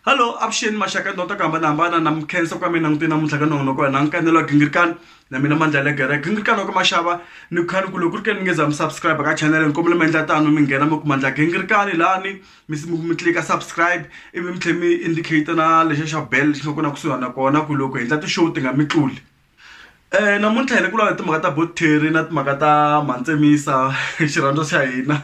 hallo avuxeni maxaka ya ndota ku hambanahambana na mikhensa ku ka mi langute namuntlha ka nongonoko wa hina nkanelo wa gingirikani na mina mandla le gere gingirikani wa ka maxava ni khani ku loko ri ke ni nge za mi subscribe ka chanele ni kombela mi endla tano mi nghena mi kuma ndla gingirikani lani mi mi tlika subscribe ivi mi tlhela mi indicate na lexa xa bell xi nga ku na kusuhana kona ku loko hi endla ti-show ti nga mi tluli namuntlha hi ri ku lava timhaka ta bottery na timhaka ta mantsemisa xirhandza xa hina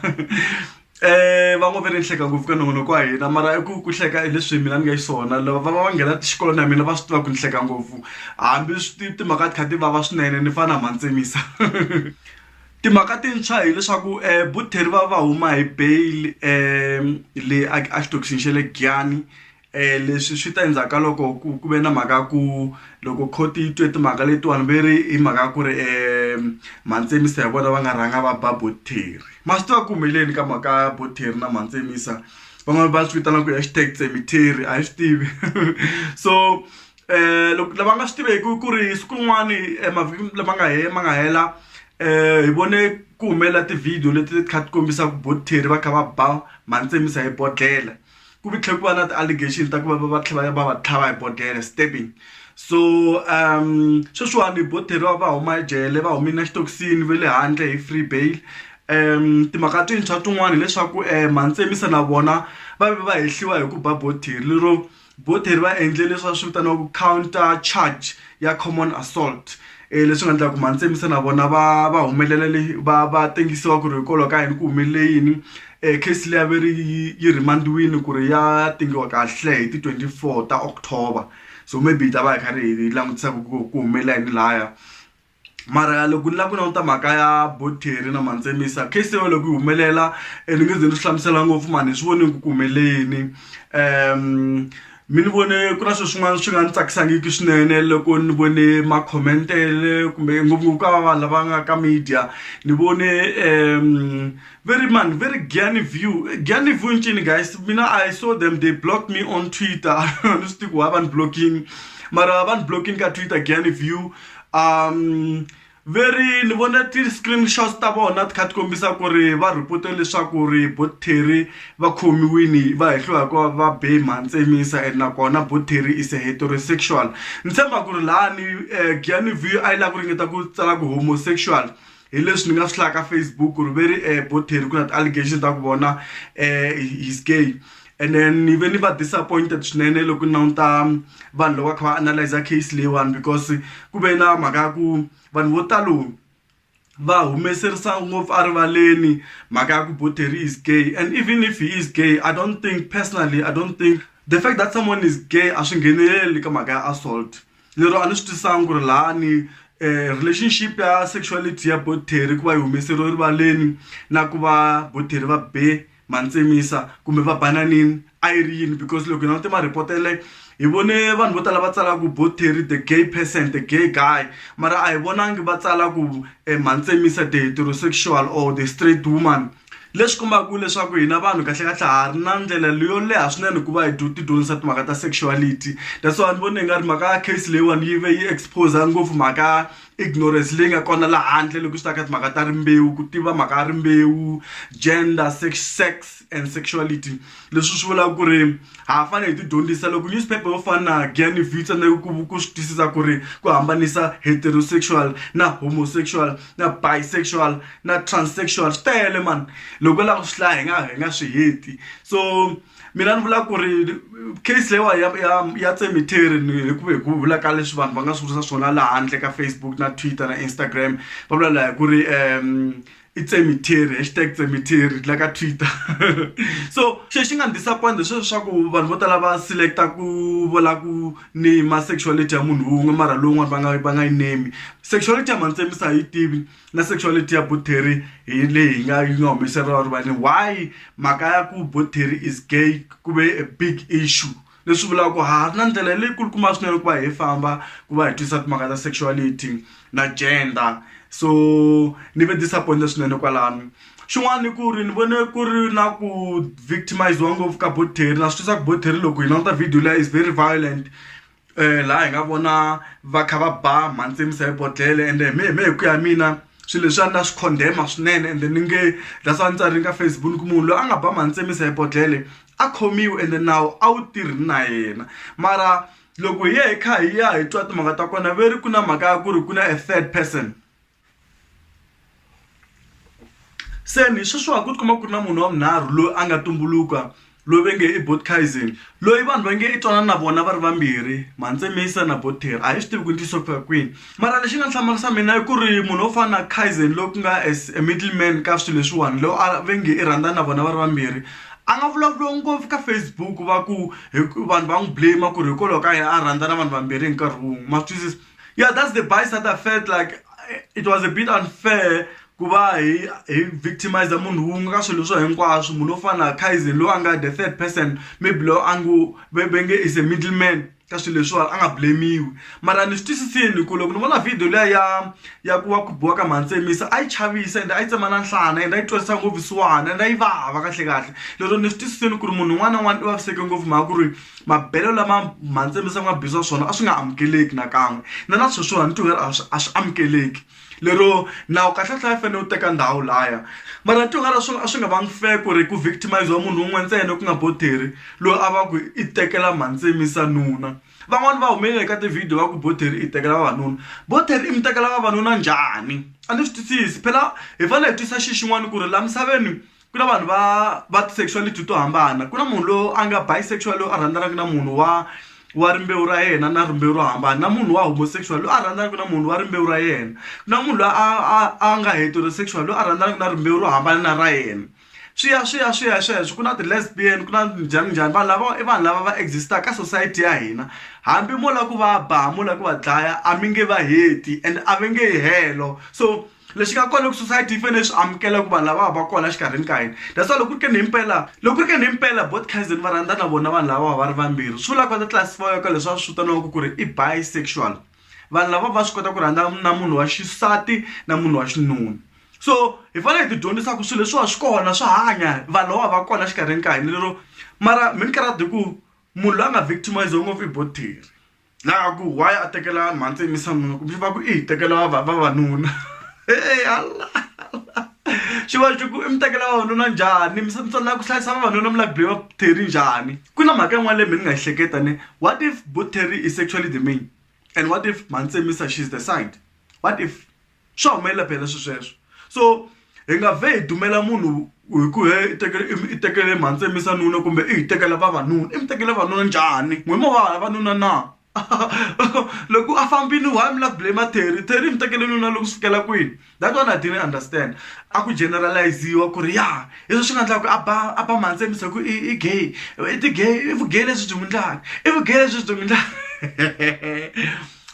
um va ngo ve ri ni hleka ngopfu ka nongonoko wa hina mara i ku ku hleka hi leswi mina ni nga xiswona lava va va va nghena xikolo na mina va swi tiva ku ni hleka ngopfu hambi swi timhaka ti kha ti vava swinene ni fana na mantsemisa timhaka tintshwa hileswaku um buttery va va huma hi bail um le a xitokisini xa le Giyani leswi swi ta endzhaku ka loko ku ku ve na mhaka ya ku loko court yi twe timhaka letiwani ve ri hi mhaka ya ku ri mantshemisa hi vona va nga rhanga va ba bo theri ma swi tiva ku humeleni ka mhaka ya bo theri na mantshemisa van'wani va swi vitana ku i hashtag cemetery a hi swi tivi so loko lava nga swi tiveki ku ri siku rin'wani emavhikini lama nga hela ma nga hela hi vone ku humelela ti-video leti ti kha ti kombisa ku bo theri va kha va ba mantshemisa hi bodlhela. ku vi tlhe ku va na ti allegation ta ku va va va tlhe va ya va va tlhava hi bodlhela stabbing so sweswiwani vo theriwa va huma ejele va humile na xitokisini va le handle hi free bail timhaka tintshwa tin'wana hileswaku Mhantsemi se na vona va ve va hehliwa hi ku ba bo theri lero bo theri va endle leswi va swi vitanaka counter charge ya common assault. leswi nga endlaku mhani Tshembisa na vona va va humelela le va va tengisiwa ku ri hikwalaho ka yini ku humelele yini case liya ve ri yi rhimariwini ku ri ya tengiwa kahle hi ti twenty four ta October so maybe hi ta va hi karhi hi langutisa ku ku ku humelela yini laya mara loko ni lava ku languta mhaka ya Bottery na mhani Tshembisa case yin'we loko yi humelela ni nge ze ni swi hlamusela ngopfu mhani hi swi vonile ku ku humelele yini . mi ni vone ku na swo swin'wana swi nga ni tsakisangiki swinene loko ni vone makhomentele kumbe ngopfungopfu ka va vanhu lava nga ka media ni vone um ve ri mani ve ri giani view giani view ncini guys mina i saw them they blocked me on twitter ni swi tivi ku why va ni blocking mara va ni blocking ka twitter giani view um ve ri ni vone ti-screenshots ta vona ti kha ti kombisa ku ri va report-e leswaku ri bo Terry va khomiwini va hehliwa hi ku va va be mhani Mintsemisa and nakona bo Terry is a heterosexual ni tshemba ku ri lani Giyani View a yi lava ku ringeta ku tsala ku homosexual hi leswi ni nga swi hlaya ka Facebook ku ri ve ri bo Terry ku na ti-allegations ta ku vona he's gay and then ni ve ni va disappointed swinene loko ni languta vanhu loko va kha va analyza case leyiwani because ku ve na mhaka ya ku vanhu vo talo va humeserisa ngopfu erivaleni mhaka ya ku bottery is gay and even if he is gay i don't think personally i don't think the fact that someone is gay a swi ngheneleli ka mhaka ya assault lero a ni swi twisanga ku ri lahani um relationship ya sexuality ya bottery ku va yi humeseriwe erivaleni na ku va bottery va be Mantsemisa kumbe va bananini a yi ri yini because loko hi langute mareport ya leyo hi vone vanhu vo tala va tsala ku bo Terry the gay person the gay guy mara a hi vonangi va tsala ku Mantsemisa the heterosexual or the straight woman leswi kombaka leswaku hina vanhu kahlekahle ha ri na ndlela leyo leha swinene ku va hi ti dyondzisa timhaka ta sexuality that's why ni vona hi nga ri mhaka ya case leyiwani yi ve yi expose ngopfu mhaka ignorance leyi nga kona laha handle loko swi ta ka timhaka ta rimbewu ku tiva mhaka ya rimbewu gender sex sex and sexuality leswi swi vulaka ku ri ha ha fanele hi tidyondzisa loko newspaper yo fana na Gianni Vita na ku ku swi twisisa ku ri ku hambanisa heterosexual na homosexual na bisexual na transsexual swi tele mani loko u lava ku swi hlaya hi nga hi nga swi heti so mina ni vula ku ri case leyiwa ya ya ya cemetery ni hi ku hi ku vula ka leswi vanhu va nga swi vutisa swona laha handle ka Facebook na Twitter na Instagram va vula laha ku ri i cemetery hashtag cemetery la ka Twitter so xi xi nga ni disappoint sweswo swa ku vanhu vo tala va select-a ku vula ku ni ma sexuality ya munhu wun'we mara lowun'wana va nga va nga yi name sexuality ya mhani Tsemiso a hi yi tivi na sexuality ya bottery hi leyi hi nga yi nga humeseriwa rivaleni why mhaka ya ku bottery is gay ku ve a big issue leswi vulaka ku ha ri na ndlela leyi kulukumba swinene ku va hi famba ku va hi twisisa timhaka ta sexuality na gender so ni ve disappointed swinene kwalano xin'wana i ku ri ni vone ku ri na ku victimize-iwa ngopfu ka bottery na swi twisaka bottery loko hi languta video leyi is very violent um laha hi nga vona va kha va ba mhantsimisa hi bodlele ende hi me hi me hi ku ya mina swilo leswi a ni na swi condemn-a swinene ende ni nge that's why ni tsarile ka Facebook ni ku munhu loyi a nga ba mhantsimisa hi bodlele a khomiwe ende nawu a wu tirhi na yena mara loko hi ye hi kha hi ya hi twa timhaka ta kona ve ri ku na mhaka ya ku ri ku na a third person. se ni sweswiwa ku tikuma ku ri na munhu wa munharhu loyi a nga tumbuluka loyi ve nge i botkaisen loyi vanhu va nge i twanana na vona va ri vambirhi mantsemisa na boter a hi swi tivi ku ntiyiso ku fika kwini mara lexi nga hlamarisa mina i ku ri munhu wo fana na kaisen loyi ku nga as a middle man ka swilo leswiwani loyi a ve nge i rhandza na vona va ri vambirhi a nga vulavuriwa ngopfu ka facebook va ku vanhu va n'wi blame ku ri hikwalaho ka yini a rhandza na vanhu vambirhi hi nkarhi wun'we ma swi twisisa. yeah that's the bias that i felt like it was a bit unfair ku va hi hi victimize munhu wun'we ka swilo swo hinkwaswo munhu wo fana na kaizen loyi a nga the third person maybe loyi a ngo ve nge is a middle man ka swilo leswiwani a nga blame-iwi mara ni swi twisisini ku loko ni vona video liya ya ya ku wa ku biwa ka mhantsemisa a yi chavisa ende a yi tsemana nhlana ende a yi twarisa ngopfu swihana ende a yi vava kahle kahle lero ni swi twisisini ku ri munhu un'wana na un'wana i vaviseke ngopfu mhaka ku ri mabelo lama mhandzi misava nga bisa swona a swi nga amukeleki nakan'we na na sweswiwani ti a swi a swi amukeleki lero nawu kahle tlhe a fanele u teka ndhawu laya mara ni tin'wana swona a swi nga vangi fair ku ri ku victimize wa munhu wun'we ntsena ku nga bottery loyi a va ku i tekela mhandzi misa nuna van'wani va humelele ka ti-video va ku bottery i tekela vavanuna bottery i mi tekela vavanuna njhani a ni swi twisisi phela hi fanele hi twisisa xi xin'wani ku ri laha misaveni ku na vanhu va va ti-sexuality to hambana ku na munhu loyi a nga bisexual loyi a rhandzanaka na munhu wa wa rimbewu ra yena na rimbewu ro hambana na munhu wa homosexual loyi a rhandzanaka na munhu wa rimbewu ra yena na munhu loyi a a a nga heterosexual loyi a rhandzanaka na rimbewu ro hambana na ra yena swi ya swi ya swi ya sweswo ku na ti-lesbian ku na njhani njhani vanhu lava i vanhu lava va exist-aka ka society ya hina hambi mo lava ku va ba mo lava ku va dlaya a mi nge va heti and a va nge yi helo so. lexi nga kona loko society yi fanele swi amukela ku vanhu lava va va kona exikarhini ka hina that's why loko ku ri ke ni himpela loko ku ri ke ni himpela both cousin va rhandza na vona vanhu lava va ri vambirhi swi vulaka va ta classify-wa ka leswi va swi vitaniwaka ku ri i bisexual vanhu lava va swi kota ku rhandza na munhu wa xisati na munhu wa xinuna so hi fanele hi ti dyondzisa ku swilo leswiwa swi kona swa hanya vanhu lava va kona exikarhini ka hina lero mara minkarhi ya ku munhu loyi a nga victimize-iwa ngopfu i boti theri laha ku why a tekela mhantsi yimisa nuna kumbe va ku i hi tekela vavanuna e ala xi va xi ku i mi tekela vavanuna njhani mi na ku hlayisa vavanuna mi la be va terry njhani ku na mhaka yin'wana leyi mi ni nga yi hleketa ne what if bo terry is actually the main and what if mhantsi yimisa she is the side what if swa humelela phela swi sweswo so hi nga vhe hi dumela munhu hi ku he i tekele i tekele mhantsemisa nuna kumbe i hi tekela vavanuna i mi tekela vavanuna njhani n'wi mo va vavanuna na loko a fambini why mi la ku blame terry terry mi tekele nuna loko swi fikela kwini that one i didn't understand a ku generalize-iwa ku ri ya hi swo swi nga endlaka ku a ba a ba mhantsemisa hi ku i i gay i ti-gay i vu-gay lebyi byi n'wi ndlaka i vu-gay lebyi byi n'wi ndlaka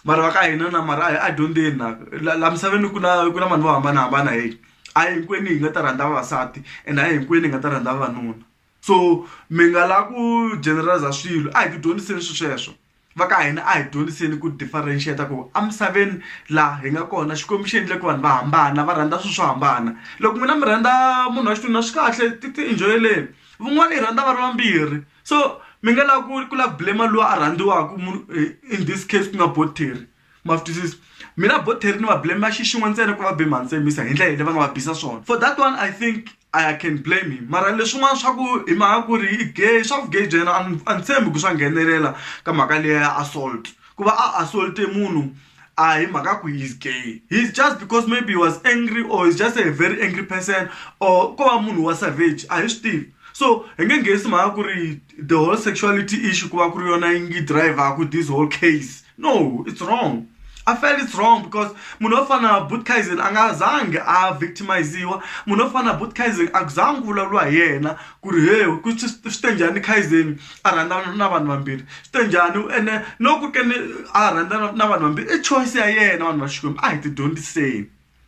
vanhu va ka hina na mara a hi a dyondzeni na la misaveni ku na ku na vanhu vo hambanahambana hi a hi hinkwenu hi nga ta rhandza vavasati and a hi hinkwenu hi nga ta rhandza vavanuna so mi nga la ku generaliza swilo a hi ti dyondziseni swi sweswo va ka hina a hi dyondziseni ku differentiate ku emisaveni laha hi nga kona xikwembu xi endle ku vanhu va hambana va rhandza swilo swo hambana loko n'wina mi rhandza munhu wa xinuna swi kahle ti ti enjoy-eleni van'wana yi rhandza va ri vambirhi. so mi nga lava ku ku lava blame loyi a rhandziwaka munhu eh, in this case ku nga bottery ma swi twisisa mina bottery ni va blame va xixin'we ntsena ku va be mantsemisa hi ndlela leyi va nga va bisa swona for that one i think i can blame him mara leswin'wana swa ku hi mhaka ku ri i gay swa vugay bya yena a ni tshembi ku swa nghenelela ka mhaka leya ya assault ku va a assault munhu a hi mhaka ku he's gay he's just because maybe he was angry or he's just a very angry person or ko va munhu wa savage a hi swi tivi so hi nge nghenisi mhaka ku ri the whole sexuality issue ku va ku ri yona yi ngi driverku this whole case no it's wrong i felt it's wrong because munhu wo fana na butkaisen a nga zangi a victimiziwa munhu wo fana na butkaisen a ku zangi ku vulavuriwa hi yena ku ri he swi te njhani kaisen a rhandzana na vanhu vambirhi swi te njhani ene loko ku ri ke ni a rhandzana na vanhu vambirhi i choice ya yena vanhu va xikwembu a hi ti dyondziseni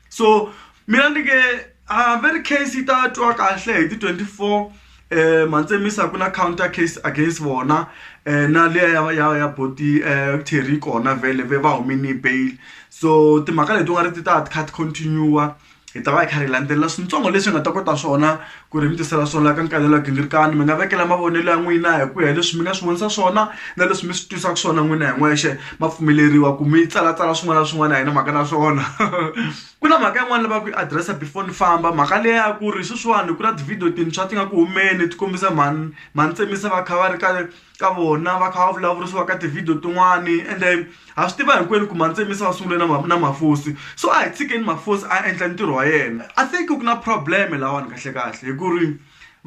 so mina ni nge a very case yi ta twa kahle hi ti twenty four um mantsemisa ku na counter case against vona um na liya ya ya ya boti um terry kona vhele ve va humini bail so timhaka leti u nga ri ti ta ti kha ti continue-a hi ta va hi kha hi landzelela swintsongo leswi nga ta kota swona ku ri mi tisela swona ka nkarhi lowu gingirikani mi nga vekela mavonelo ya n'wina hi ku ya leswi mi nga swi vonisa swona na leswi mi swi twisaka swona n'wina hi n'wexe ma pfumeleriwa ku mi tsalatsala swin'wana na swin'wana a hi na mhaka na swona ku na mhaka yin'wana lava ku yi adirese before ni famba mhaka leya ku ri sweswiwani ku na tivhidiyo tintshwa ti nga ku humeni ti kombisa mhani mhani tsemisa va kha va ri ka ka vona va kha va vulavurisiwa ka tivhidiyo tin'wani ende ha swi tiva hinkwenu ku mantsemi se va sungule na na mafosi so a hi tshikeni mafosi a endla ntirho wa yena i think ku na problem lawani kahlekahle hi ku ri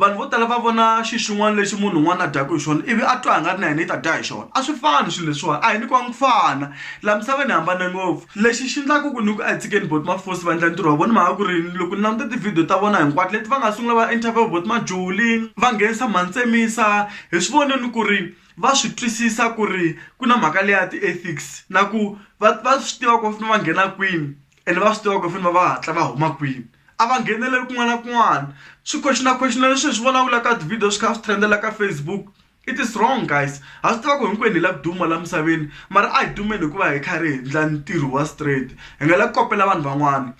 vanhu vo tala va vona xi xin'wana lexi munhu un'wana a dyaka hi xona ivi a twa a nga ri na yena yi ta dya hi xona a swi fani swilo leswiwani a hi nyikiwanga ku fana laha misaveni hi hambane ngopfu lexi xi endlaka ku ni ku a hi tshikeni bot mafosi va endla ntirho wa vona mhaka ku ri loko ni languta tivhidiyo ta vona hinkwato leti va nga sungula va interview bot majuli va nghenisa mhani tsemisa hi swi vone ni ku ri va swi twisisa ku ri ku na mhaka leya ti-ethics na ku va va swi tiva ku va fanele va nghena kwini ene va swi tiva ku va fanele va va hatla va huma kwini a va ngheneleli kun'wana na kun'wana swi question question leswi hi swi vulavulaka ka ti-video swi kha swi trend-ela ka Facebook it is wrong guys ha swi tiva ku hinkwenu hi la ku duma la misaveni mara a hi dumeni hikuva hi kha ri hi endla ntirho wa straight hi nga la ku kopela vanhu van'wana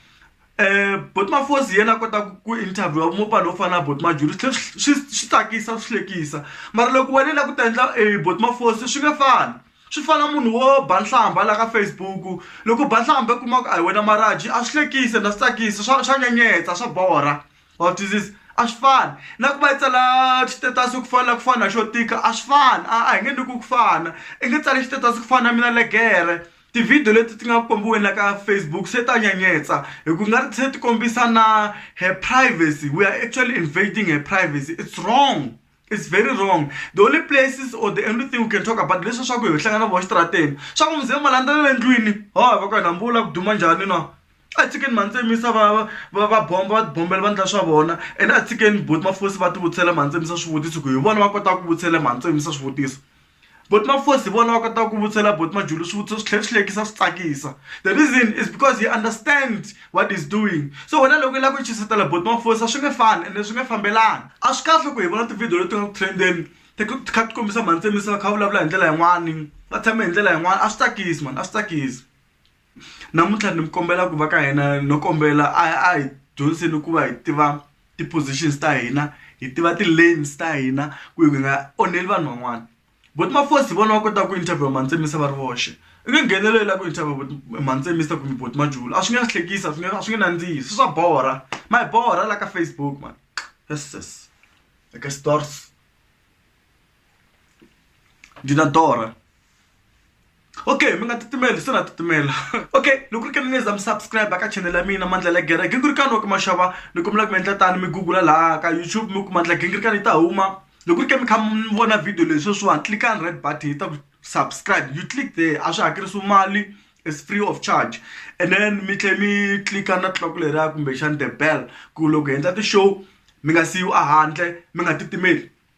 um bot mafosi yena a kota ku interview wa mopani wo fana na bot majuri swi tsakisa swi hlekisa mara loko wena la ku ta endla e eh, bot mafosi swi nge fani swi fana munhu wo ba nhlamba la ka facebook loko ba nhlamba i kuma ku a hi wena maraji a swi hlekisi na swi tsakisa swa swa nyenyetsa swa borha wa twisisa a swi fani na ku va yi tsala xitetasi ku fana ku fana xo tika a swi fani a a hi nge ni ku ku fana i nge tsali xitetasi ku fana na mina legere Tivhidiyo leti ti nga kombiweni la ka Facebook se ta nyenyetsa hi ku nga ri se ti kombisa na her privacy we are actually invading her privacy it's wrong it's very wrong the only places or the only thing we can talk about hi leswiya swa ku hi hlangana na vona exitarateni swa ku muze mi landzelela endlwini ho va ku yini hambi u lava ku duma njhani na a tshikeni mhani se mi yisa va va va va bomba va tibombela va endla swa vona ene a tshikeni buti mafosi va ti vutisela mhani se mi yisa swivutiso ku hi vona va kotaka ku vutisela mhani se mi yisa swivutiso Buti Mafosi hi vona va kotaka ku vutisela buti Majulu swivutiso swi tlhela swi hlekisa swi tsakisa the reason is because he understand what is doing so wena loko i lava ku chuhisela buti Mafosi a swi nge fani ende swi nge fambelani a swi kahle ku hi vona tivhidiyo leti nga ku trend-eni ti kha ti kombisa mhani Tsemisa va kha va vulavula hi ndlela yin'wani va tshame hi ndlela yin'wani a swi tsakisi mhani a swi tsakisi. namuntlha ni mi kombela ku va ka hina no kombela a a hi dyondziseni ku va hi tiva ti-positions ta hina hi tiva ti-lanes ta hina ku hi nga onheli vanhu van'wana but mafosi hi vona va kotaka ku interview mantsemisa va ri voxe i nge nghenelo yi lava ku interview mantsemisa kumbe bot majulu a swi nge hlekisa a swi nge a swi nge nandzihi swi swa borha ma hi borha la ka facebook man yes yes like a stars ndzi na torha okay mi nga titimeli se na titimela okay loko ri ke ni za mi subscribe ka channel ya mina mandla la gere gingirikani wa ku maxava loko mi lava ku mi endla tani mi google laha ka youtube mi kuma ndla gingirikani yi ta huma loko ri ke mi kha mi vona video leyi sweswiwani tlickani red button yi ta ku subscribe you click there a swi hakerisiwi mali is free of charge and then mi tlhe mi click-a na tliloko leriya kumbexani the bell ku loko hi endla ti-show mi nga siyiwi a handle mi nga titimeli